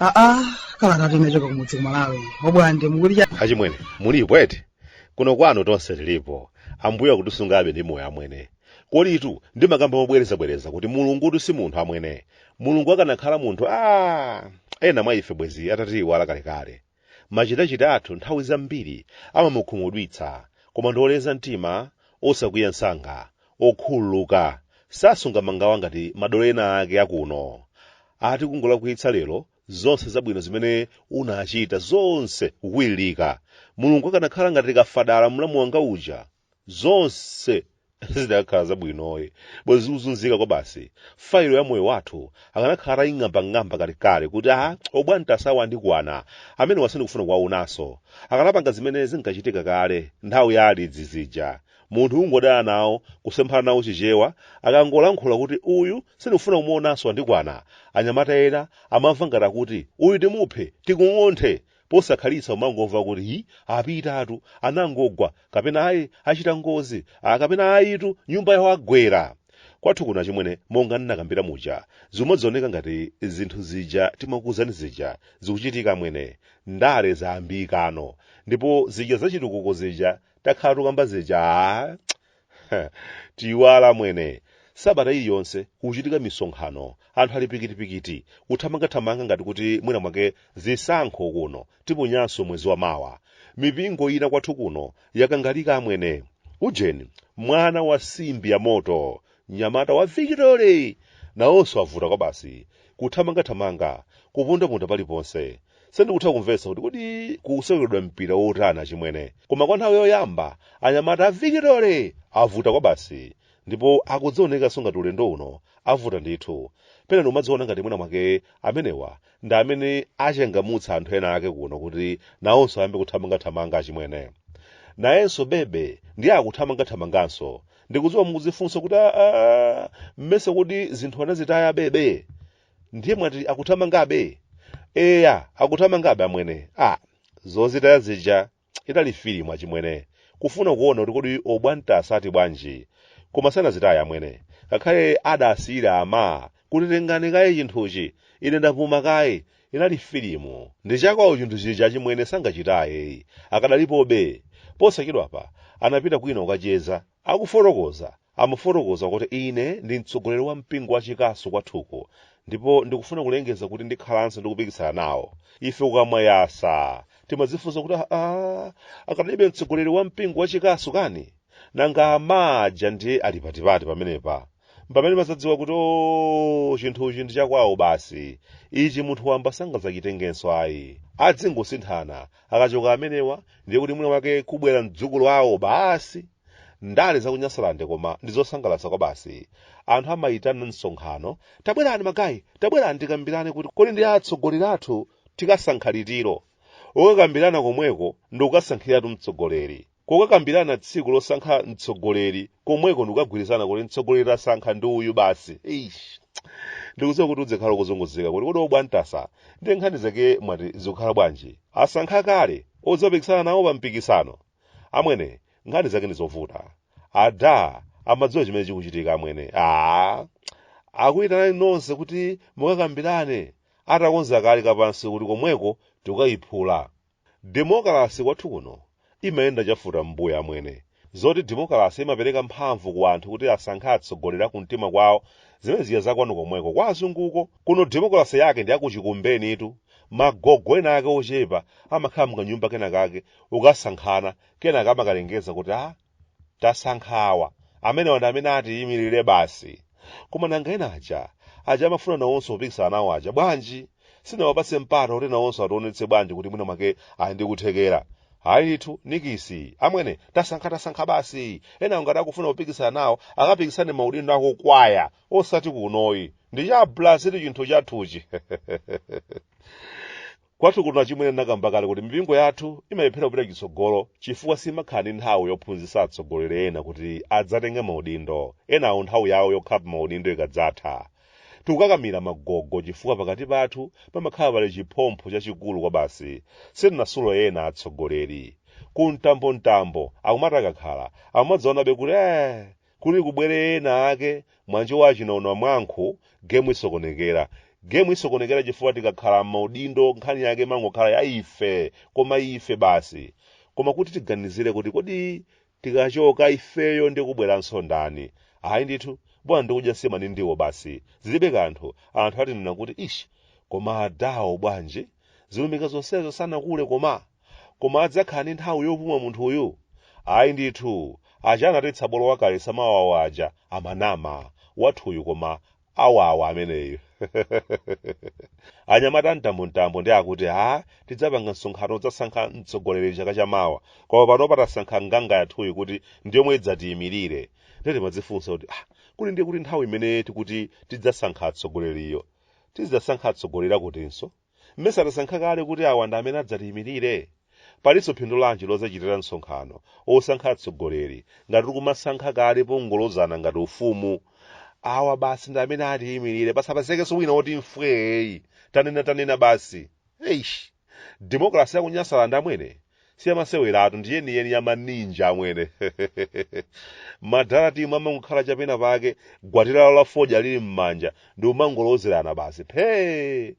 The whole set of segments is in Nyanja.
aa kalanga tinachoka kumudzi kumalawi Obwande achimwene mulipo eti kuno kwanu tonse tilipo ambuye akutisungabe ndi moyo amwene Koditu ndimakamba mobwerezabwereza kuti Mulungutu si munthu amwene. Mulungu akanakhala munthu, a ena mwa ife bwezi atatiiwala kalekale. Machitachita athu nthawi zambiri amamukhumudwitsa, koma ndi oleza mtima, osakwiya msanga, okhululuka. Sasunga mangawa ngati madolo ena ake a kuno. Ati kungolakwitsa lero, zonse zabwino zimene unachita zonse kukwiririka. Mulungu akanakhala ngati kafadala mlamu wanga uja, zonse zidakhala zabwino ayi bwezi tikuzunzika kwa basi fayilo ya moyo wathu akanakhala ataying'ambang'amba kalekale kuti a obwantasa andikwana amenewa sindikufuna kuwaonanso akanapanga zimene zinkachitika kale nthawi ya alidzi ija munthu ungodana nawo kusemphana nawo chichewa akangolankhula kuti uyu sindikufuna kumuonanso andikwana anyamata ena amamva ngati akuti uyu timuphe tigong'onthe posakhalitsa umamva kuti hi apitatu anangogwa kapena ayi achita ngozi ah, kapena ayi tu nyumba yawagwera kwathu kuno chimwene monga ndinakambira muja zimadzioneka ngati zinthu zija timakuuzani zija zikuchitika mwene ndale zayambika kuno ndipo zija zachitukuko zija takhala tukamba zija ah, Ha, tiyiwala mwene sabata iliyonse kuchitika misonkhano anthu ali pikitipikiti kuthamangathamanga ngati kuti mwina mwake zisankho kuno tiponyanso mwezi wa mawa mipingo ina kwathu kuno yakangalika amwene ujeni mwana wa nsimbi ya moto mnyamata wa victory nawonso avuta kwabasi kuthamangathamanga kupondaponda paliponse sindikutha kumvetsa kuti kodi kukuseweredwa mpira wotani achimwene koma kwa nthawi yoyamba anyamata a victory avuta kwa basi ndipo akudzionekanso ngati ulendo uno avuta ndithu pena ndikumadziona ngati mwina mwake amenewa ndi amene achangamutsa anthu ena ake kuno kuti nawonso ayambe kuthamangathamanga achimwene nayenso bebe ndiye akuthamangathamanganso ndikudziwa mukudzifunsa kuti "Ah, ah, mmesa kodi zinthu anazitaya bebe ndiye mwati akuthamangabe eya akuthamangabe amwene a zozitaya zija inali filimu achimwene kufuna kuona kuti kodi obwantasa ati bwanji koma sanazitaye amwene ngakhale adasiyira ama kuti tengani kaye chinthuchi ine ndapuma kaye inali filimu ndi chakwawo chinthu chija achimwene sangachitaye ayi akadalipobe posachedwapa anapita kwina ukacheza Akufotokoza, Amafotokoza kuti ine ndi mtsogoleri wa mpingo wa chikasu kwathuko ndipo ndikufuna kulengeza kuti ndikhalanso ndikupikisana nawo. Ife kukamwa yasaa! Timadzifunsa kuti aah, akadalibe mtsogoleri wa mpingo wa chikasu kani? Nanga amaa aja ndiye ali patipati pamenepa? Mpamene umadzadziwa kuti oooh chinthuchi ndi chakwawo basi. Ichi munthu wamba sangadzachitengenso ayi. Adzingosinthana, akachoka amenewa ndiye kuti mwina wake kubwera mdzukulu wawo basi ndale zakunyasalande koma ndi zosangalatsa kwabasi anthu amayitana msonkhano tabwerani magayi tabwerani tikambirane kuti kodi ndiye atsogoleri athu tikasankha liti lo kukakambirana komweko ndi kukasankhiratu mtsogoleri kukakambirana tsiku losankha mtsogoleri komweko ndikukagwirizana kuti mtsogoleri tasankha ndi uyu basi Eish. ndikudziwa kuti udzikhala ukuzunguzika kuti kodi obwantasa ndiye nkhani zake mwati zikukhala bwanji asankha kale odzapikisana nawo pa mpikisano amwene nkhani zake ndizovuta ada amadziwa chimene chikuchitika amwene a akuyitanani nonse kuti mukakambirane atakonza kale kapansi kuti komweko tikukayiphula Demokalase kwathu kuno imayenda chafuta mmbuyo amwene. Zoti demokalase imapereka mphamvu ku anthu kuti asankhe atsogoleri a kumtima kwawo zimenezija za kwanu komweko, kwa azunguko. Kuno demokalase yake ndi ya kuchikumbenitu. Magogo ena ake ochepa amakhala m'kanyumba kena kake, nkukasankhana, kenaka amakalengeza kuti, ah, Tasankha awa, amenewa ndi amene atiyimilire basi. Koma nanga ena aja, aja amafuna nawonso kupikisana nawo aja, bwanji? Simunawapatse mpata oti nawonso atationetse bwanji kuti mwina mwake ali ndi kuthekera? Ayi ndithu, nikisi, amwene, tasankha tasankha basi, enawo ngati akufuna kupikisana nawo akapikisane maudindo a kukwaya osati kunoyi. Ndi cha abulazi chinthu chathuchi. Kwathu kuno achimwene ndinakamba kale kuti mipingo yathu imalephera kupita chitsogolo chifukwa simakhala ndi nthawi yophunzitsa atsogoleri ena kuti adzatenge maudindo enawo nthawi yawo yokhala pa maudindo ikadzatha. Tikukakamira magogo chifukwa pakati pathu pamakhala pali chiphompho chachikulu kwabasi, sitinasule ena atsogoleri. Ku mtambontambo akumati akakhala, akumadzaonabe kuti ee! kuti kubwere ena ake mwanjo wa achina una mwankho gemu isokonekera gemu isokonekera chifukwa tikakhala m'maudindo nkhani yake imangokhala ya ife koma ife basi koma kuti tiganizire kuti kodi tikachoka ifeyo ndi kubweranso ndani ayi ndithu bola ndikudya nsima ndi ndiwo basi zilibe kanthu anthu atinena kuti ish koma adawo bwanji zilumika zonsezo sanakule koma Koma adzakhala ndi nthawi yopuma munthu uyu? Ayi ndithu, aja anati tsabola wakale samawawa aja amanama, wathuyu koma awawa ameneyu. Anyamata a mtambomtambo ndi akuti ha tidzapanga msonkhano wodzasankha mtsogoleri chaka chamawa, koma panopa tasankha nganga yathuyi kuti ndi yomwe idzatiyimirire. Ndiye timadzifunsa kuti ah, kodi ndiye kuti nthawi imene tikuti tidzasankha atsogoleriyo tizidzasankha atsogoleri akutinso? Mmesa tasankha kale kuti awa ndi amene adzatiimirire? Palinso phindu lanji lodzachitira msonkhano wosankha atsogoleri ngati tikumasankha kale pongolozana ngati ufumu? Awa basi ndi amene atiimirire, pasapezekenso wina woti mfwee, tanena tanena basi. Eish! Democracy ya ku Nyasaland amwene, si yamaseweratu ndi yeniyeni ya maninja amwene madala timuwa amangokhala chapena pake gwati lawo la fodya ali m'manja n'kumangolozerana basi phee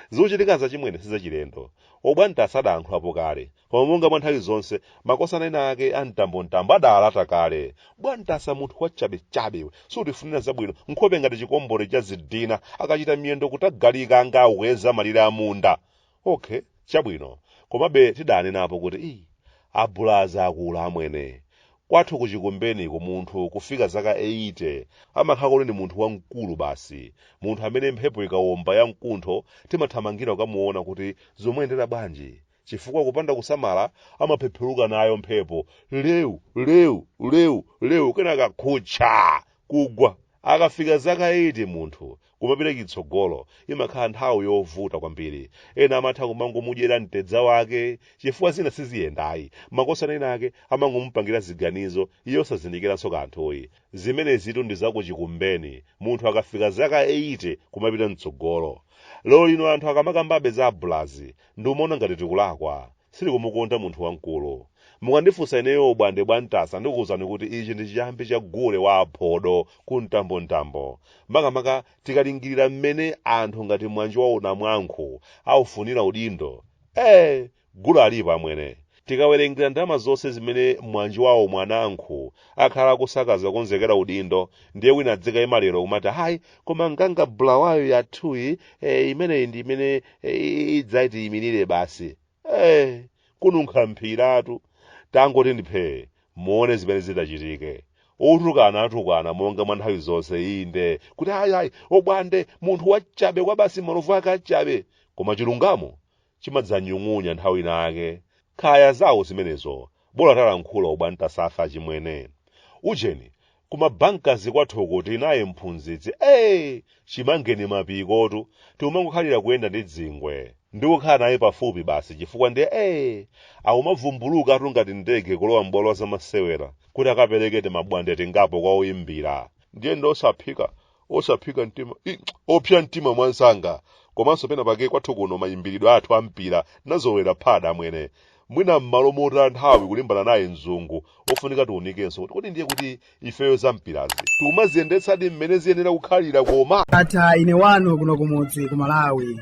zikuchitika zachimwene sizachilendo obwantasa adayankhulapo kale koma monga mwa nthawi zonse makosana ena ake a mtambomtambo adaalata kale bwantasa munthu wachabechabe sutifunira zabwino nkhope ngati chikombole cha zidina akachita miyendo kutagalika anga ayeza malire a munda Okay, chabwino. Komabe tidanenapo kuti ii abulaza akula amwene. Kwathu ku Chikumbeniku munthu kufika zaka 80 amakhala kuti ndi munthu wamkulu basi. Munthu amene mphepo ikawomba ya mkuntho timathamangira kukamuona kuti zomuyendera bwanji. Chifukwa kupanda kusamala amaphepheluka nayo mphepo. Lewu, lewu, lewu, lewu kenaka khucha! Kugwa. Akafika zaka 80 munthu kumapita chitsogolo, imakhala nthawi yovuta kwambiri. Ena amatha kumangomudyera mtedza wake chifukwa zina siziyenda ayi. Makosana ena ake amangomupangira ziganizo iye osazindikiranso kanthuyi. Zimenezitu ndi za kuchikumbeni, munthu akafika zaka 80 kumapita mtsogolo. Lero lino anthu akamakambabe za abulazi, n'kumaona ngati tikulakwa. sitikumukonda munthu wamkulu. Mukandifunsa ineyo Obwande Bwantasa ndikukuuzani kuti ichi ndi chiyambi cha gule wa aphodo ku mtambomtambo. Makamaka tikalingirira mmene anthu ngati mwanjiwawo Namwankhu aufunira udindo, ee! Gule alipo amwene. Tikawerengera ndalama zonse zimene mwanjiwawo Mwanankhu akhala akusakaza kukonzekera udindo, ndiye wina adzikaima lero kumati ayi koma Nganga Bulawayo yathuyi, ee imeneyi ndi imene i- idzatiyimirire basi eh, kununkha mphiratu tangotini phee muone zimene zitachitike otukana atukana monga mwa nthawi zonse inde kuti ayayi obwande munthu wachabe kwabasi malovu ake achabe koma chilungamo chimadzanyung'unya nthawi inayake kaya zawo zimenezo bola talankhula ubwana tisanafe chimwene ujeni ku ma Bankers kwathuku tili naye mphunzitsi ee chimangeni mapikotu tikumangokhalira kuyenda ndi dzingwe ndikukhala naye pafupi basi chifukwa ndiye ee akumavumbulukatu ngati ndege kulowa m'bwalo wa zamasewera kuti akapereke timabwande tingapo kwa oyimbira ndiye ndi osaphika osaphika mtima i, opsa mtima mwamsanga komanso pena pake kwathu kuno mayimbiridwe athu a mpira nazolowera phada mwene mwina m'malo motaya nthawi kulimbana naye mzungu ofunika tiunikenso kuti kodi ndiye kuti ifeyo za mpirazi tikumaziyendetsadi mmene ziyenera kukhalira koma Ata ine wanu kuno kumudzi ku Malawi.